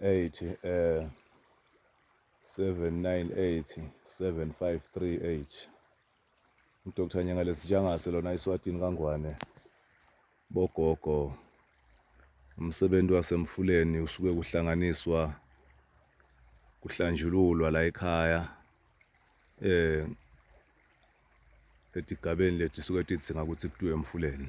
eighty eh seven nine eighty seven five three eight uDr Nyengale Sijangase lona iswatini kaNgwane bogogo umsebenzi wasemfuleni usuke kuhlanganiswa kuhlanjululwa la ekhaya eh etigabeni lethu suke tidzinga ukuthi kuthiwe emfuleni